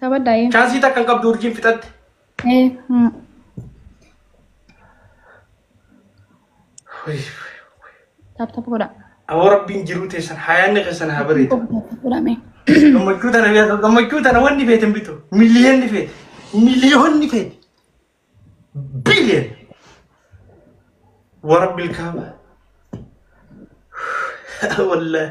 Taphadhaa yee. Chaansii takka hin qabdu urjiin fixatte. Ee. mm. Tap tap godhaa. Aboo rabbiin jiruu teessan hayaanni keessan haa bareedu. Godhamee. Gammachuu tana beektu gammachuu tana wanni feete hin bitu. Miliyoonni feete. Miliyoonni feete. Biliyoon. Warabbi ilkaaba. Wallaahi.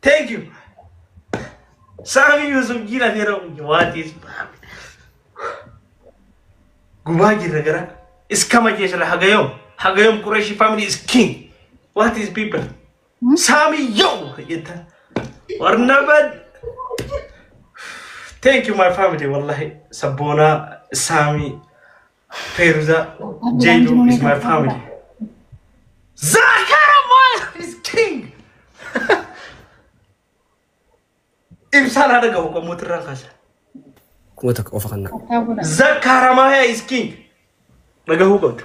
Thank you. Saami Yusuf jira fira waati ismaami. Gubaa jirra gara. Iskama jeesala hagayom. Hagayom Qureshi family is king. What is people? Saami yo jetta. Warnabad. Thank you my family wallahi. Sabboona Saami Feruza, Jaydu is my family. Zakara man is king. Ibsaan haadha gahu kan mootii irraan kaasa. Kuma takka qofa kan naa. Zakara Maya is king. Dhagahuu qabdu.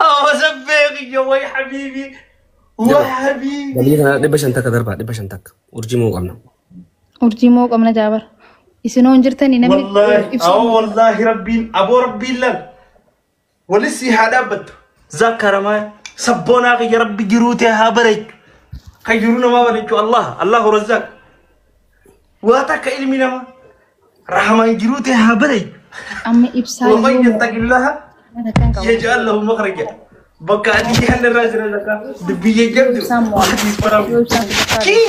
Oh, sabbee kiyya way habiibi. Way habiibi. Galii kana dhibba shan takka darbaa dhibba shan takka urjii moo qabna. Urjii moo qabna jaabar. Isin hoon jirtanii namni Wallahi, ibsu- awo wallahi rabbiin, aboo rabbiin lal. Wali sii haa dhaabbattu. Zakkaramaa sabboonaa kiyya rabbi jiruu tee haa bareechu. Kan jiruu namaa bareechu Allah Allahu Razzaaq. Waa takka ilmi namaa rahamaan jiruu tee haa bareechu. Amma ibsaa Waman yoo yattaqillaha marataan qabu. yaj'al lahu makhraja. Bakka ati jaallarraa jira lataa dubbii jajjabdu. Ibsaan mo'atu. Yoo ibsaan kutukaa Kii!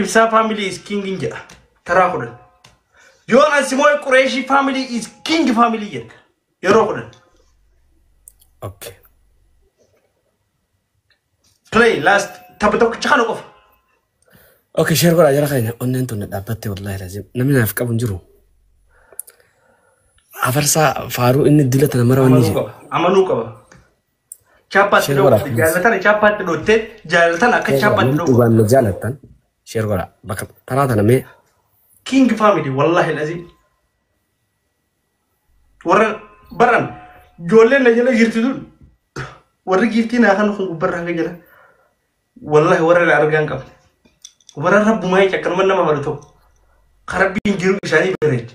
Ibsaa family is king in jedha. Taraa kudhan. Yoo Ansimooy Qureeshii family is king family jedha. Yeroo kudhan. Okay. Play last tapha tokkicha kana qofa. Okay, share godhaa jara keenya onneen tun dhaabbattee wallaahi laazim. Namni naaf qabu hin jiru. Afarsaa faaruu inni dila tana mara wanni Amanuu jedhu. qaba. Amanuu qaba. Chaappaatti Share godhaa, dhoofte please. jaallatana chaappaatti dhootte jaallatana akka chaappaatti Namni dhoofa. dhugaan na jaalattan sheer godhaa. Bakka taraa tana mee King family wallahi lazim. Warra baran ijoolleen na jala jirti tun warri giiftii naa kan kun gubbarraa hanga jala wallahi warra na argaa hin qabne. Warra rabbumaa jecha akkanuma nama hawwatu ta'u. Karabbiin jiru isaanii bareeche.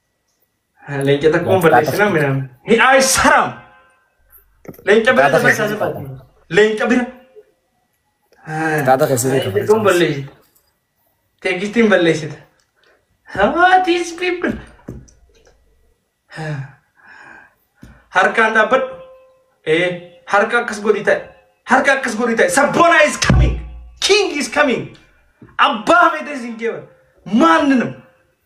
Leenca takkuun balleessina midhaan. Hidhaa is haram. Leenca bira Kitaaba dabarsaa keessatti jiraatu. Leenca bira. Kitaaba keessatti Leenca dabarsaa kun balleessita. Teegistiin balleessita. What is people? Harkaan dhaabbadhu. Ee, harka akkas godhi ta'e. Harka akkas godhi ta'e. Sabboona is coming. King is coming. Abbaa feetes hin jeeban. Maanni nama.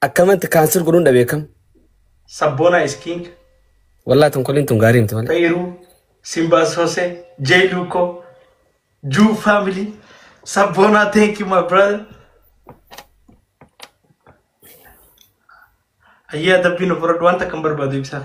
Akkamatti kaansir godhuun dhabee kam? Sabboonaa is king. Wallaa tonkoliin tun gaarii miti malee. Xayiru, Simba Sose, Jay Luko, Ju family, Sabona, thank you my brother. Ayyaa dabbiin ofirra wanta kan barbaadu ibsaa.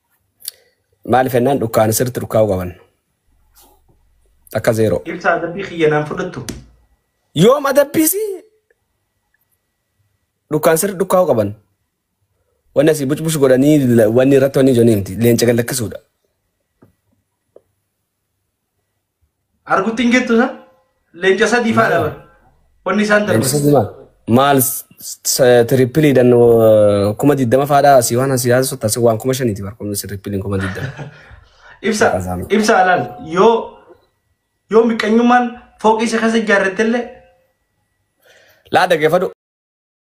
Maaliif jennaan dhukkaana sirriitti dhukkaa'uu qaban. Takka zeeroo. Ibsa adabbii kiyya naan fudhattu. Yoom adabbiis dhukkaan sirri dhukkaa'uu qaban. Wanni asii bucbush godhanii la- wanni irratti wanni ijoon himti. Leenca gallakkisuudha. Argutti hin gettu san leenca sadii faadha bara. Wanni isaan darban. Leenjisa dimaa. Maal tirippiliidhaan kuma digdama faadhaa asii waan asii haasa'u taasi waan kuma shaniiti bara kunis tirippiliin kuma digdama. Ibsa Qazaama. ibsa alaal yoo yoo miqqanyummaan fooqii isa keessa ijaarrattellee Laa dhaggeeffadhu